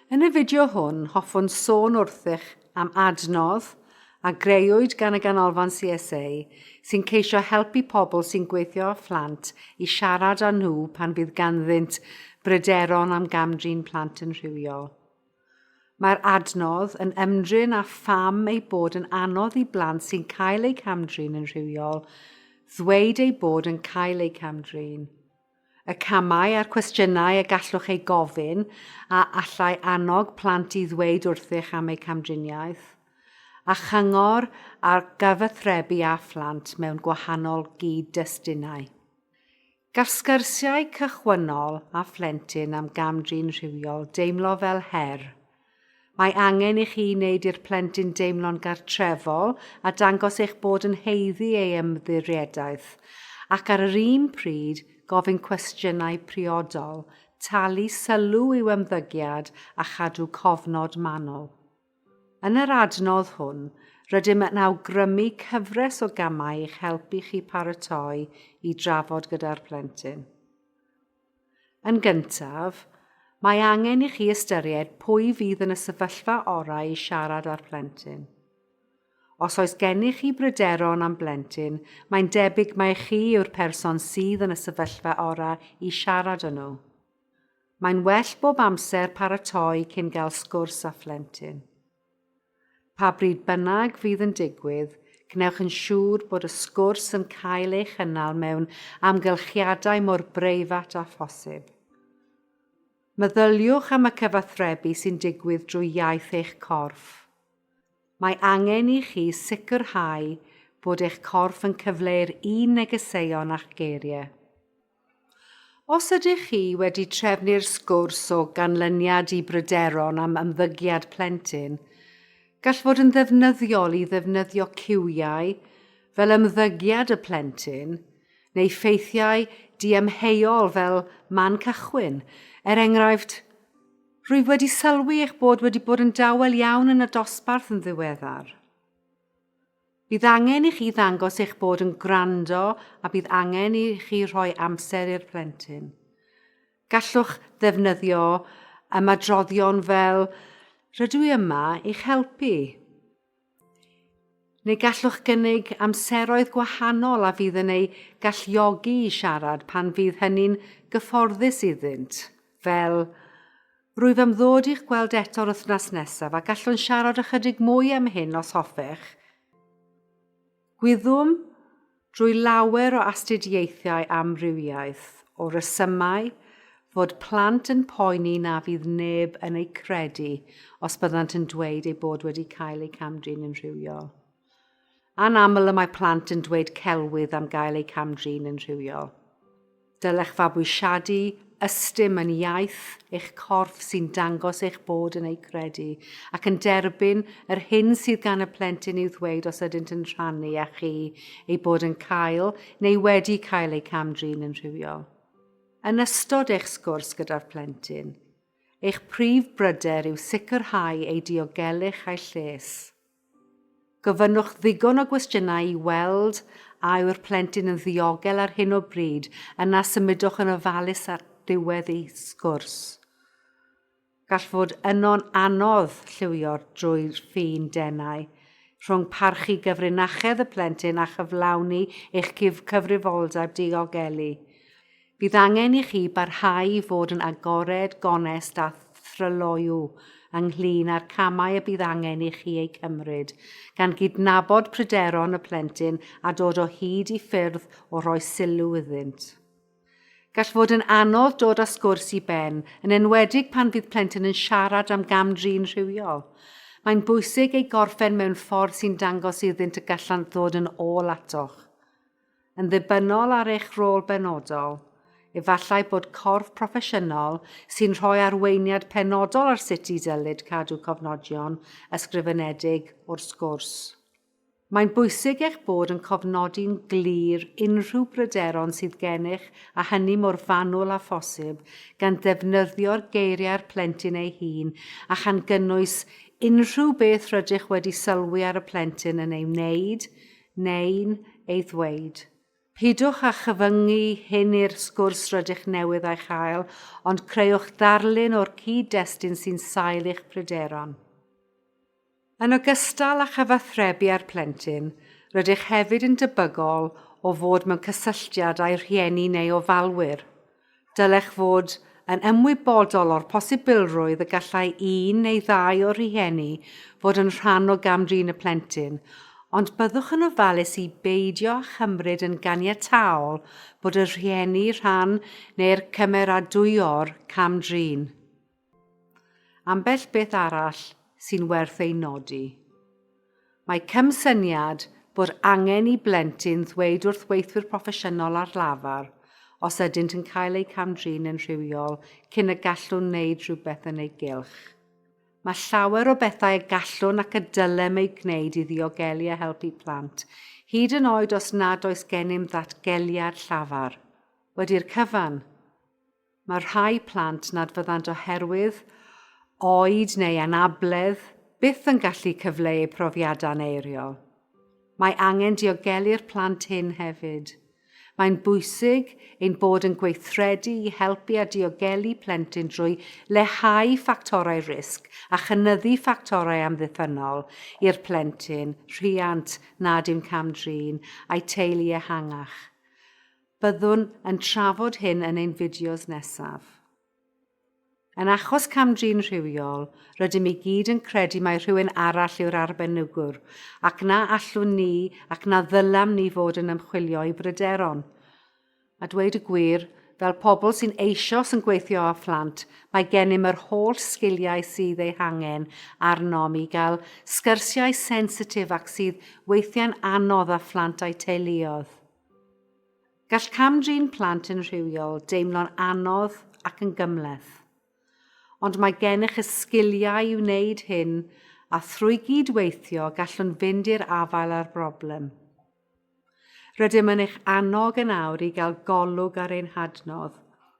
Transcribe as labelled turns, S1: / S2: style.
S1: Yn y fideo hwn, hoffwn sôn wrthych am adnodd a greuwyd gan y Ganolfan CSA sy'n ceisio helpu pobl sy'n gweithio â phlant i siarad â nhw pan fydd ganddynt bryderon am gamdrin plant yn rhywiol. Mae'r adnodd yn ymdrin â pham ei bod yn anodd i blant sy'n cael eu camdrin yn rhywiol ddweud eu bod yn cael eu camdrin, y camau a'r cwestiynau y gallwch eu gofyn a allai annog plant i ddweud wrthych am eu camdriniaeth, a chyngor ar gyfathrebu â phlant mewn gwahanol gyd-destunau. Gall sgyrsiau cychwynnol â phlentyn am gam-drin rhywiol deimlo fel her. Mae angen i chi wneud i'r plentyn deimlo'n gartrefol a dangos eich bod yn haeddu ei ymddiriedaeth, ac ar yr un pryd gofyn cwestiynau priodol, talu sylw i'w ymddygiad a chadw cofnod manwl. Yn yr adnodd hwn, rydym yn awgrymu cyfres o gamau i'ch helpu chi paratoi i drafod gyda'r plentyn. Yn gyntaf, mae angen i chi ystyried pwy fydd yn y sefyllfa orau i siarad â'r plentyn. Os oes gennych chi bryderon am blentyn, mae'n debyg mai chi yw'r person sydd yn y sefyllfa orau i siarad â nhw. Mae'n well bob amser paratoi cyn gael sgwrs â phlentyn. Pa bryd bynnag fydd yn digwydd, gwnewch yn siŵr bod y sgwrs yn cael ei chynnal mewn amgylchiadau mor breifat â phosib. Meddyliwch am y cyfathrebu sy'n digwydd drwy iaith eich corff. Mae angen i chi sicrhau bod eich corff yn cyfleu'r un negeseuon â'ch geiriau. Os ydych chi wedi trefnu'r sgwrs o ganlyniad i bryderon am ymddygiad plentyn, gall fod yn ddefnyddiol i ddefnyddio ciwiau fel ymddygiad y plentyn neu ffeithiau diamheuol fel man cychwyn, er enghraifft, Rwyf wedi sylwi eich bod wedi bod yn dawel iawn yn y dosbarth yn ddiweddar. Bydd angen i chi ddangos eich bod yn gwrando a bydd angen i chi rhoi amser i'r plentyn. Gallwch ddefnyddio ymadroddion fel Rydw i yma i'ch helpu. Neu gallwch gynnig amseroedd gwahanol a fydd yn eu galluogi i siarad pan fydd hynny'n gyfforddus iddynt. Fel, Rwyf am ddod i'ch gweld eto'r wythnos nesaf a gallwn siarad ychydig mwy am hyn os hoffech. Gwyddwm drwy lawer o astudiaethau amrywiaeth o resymau fod plant yn poeni na fydd neb yn eu credu os byddant yn dweud eu bod wedi cael eu camdrin yn rhywiol. Anaml y mae plant yn dweud celwydd am gael eu cam-drin yn rhywiol. Dylech fabwysiadu ystum yn iaith eich corff sy'n dangos eich bod yn eu credu ac yn derbyn yr hyn sydd gan y plentyn i'w ddweud os ydynt yn rhannu â chi eu bod yn cael neu wedi cael eu cam-drin yn rhywiol. Yn ystod eich sgwrs gyda'r plentyn, eich prif bryder yw sicrhau eu diogelwch a'u lles. Gofynnwch ddigon o gwestiynau i weld a yw'r plentyn yn ddiogel ar hyn o bryd, yna symudwch yn ofalus at ddiwedd y sgwrs. Gall fod yno'n anodd lliwio drwy'r ffin denau rhwng parchu gyfrinachedd y plentyn a chyflawni eich cyfrifoldeb diogelu. Bydd angen i chi barhau i fod yn agored, gonest a thryloyw ynglŷn â'r camau y bydd angen i chi eu cymryd, gan gydnabod pryderon y plentyn a dod o hyd i ffyrdd o roi sylw iddynt. Gall fod yn anodd dod â sgwrs i ben, yn enwedig pan fydd plentyn yn siarad am gam-drin rhywiol. Mae'n bwysig ei gorffen mewn ffordd sy'n dangos iddynt y gallant ddod yn ôl atoch. Yn ddibynnol ar eich rôl benodol, efallai bod corff proffesiynol sy'n rhoi arweiniad penodol ar sut i ddylid cadw cofnodion ysgrifenedig o'r sgwrs. Mae'n bwysig eich bod yn cofnodi'n glir unrhyw bryderon sydd gennych a hynny mor fanwl â phosib, gan ddefnyddio'r geiriau'r plentyn ei hun a chan gynnwys unrhyw beth rydych wedi sylwi ar y plentyn yn ei wneud neu'n ei ddweud. Peidiwch â chyfyngu hyn i'r sgwrs rydych newydd ei chael, ond creuwch ddarlun o'r cyd-destun sy'n sail i'ch pryderon. Yn ogystal â chyfathrebu â'r plentyn, rydych hefyd yn debygol o fod mewn cysylltiad â'i rhieni neu ofalwyr. Dylech fod yn ymwybodol o'r posibilrwydd y gallai un neu ddau o'r rhieni fod yn rhan o gam-drin y plentyn, ond byddwch yn ofalus i beidio â chymryd yn ganiataol bod y rhieni rhan neu'r cymeradwyo'r cam-drin. Ambell beth arall sy'n werth ei nodi. Mae cymsyniad bod angen i blentyn ddweud wrth weithwyr proffesiynol ar lafar os ydynt yn cael eu cam-drin yn rhywiol cyn y gallwn wneud rhywbeth yn ei gylch. Mae llawer o bethau y gallwn ac y dylem eu gwneud i ddiogelu a helpu plant, hyd yn oed os nad oes gennym ddatgeliad llafar. Wedi'r cyfan, Mae rhai plant nad fyddant oherwydd oed neu anabledd byth yn gallu cyfleu profiadau'n eiriol. Mae angen diogelu'r plant hyn hefyd. Mae'n bwysig ein bod yn gweithredu i helpu a diogelu plentyn drwy leihau ffactorau risg a chynyddu ffactorau amddiffynnol i'r plentyn, rhiant nad yw'n cam-drin, a'i teulu ehangach. Byddwn yn trafod hyn yn ein fideos nesaf. Yn achos cam-drin rhywiol, rydym i gyd yn credu mai rhywun arall yw'r arbenigwr, ac na allwn ni ac na ddylam ni fod yn ymchwilio i bryderon. A dweud y gwir, fel pobl sy'n eisioes yn gweithio â phlant, mae gennym yr holl sgiliau sydd eu hangen arnom i gael sgyrsiau sensitif ac sydd weithiau'n anodd â phlant a'u teuluoedd. Gall cam-drin plant yn rhywiol deimlo'n anodd ac yn gymhleth. Ond mae gennych y sgiliau i wneud hyn a thrwy gyd-weithio gallwn fynd i'r afael â'r broblem. Rydym yn eich annog yn awr i gael golwg ar ein hadnodd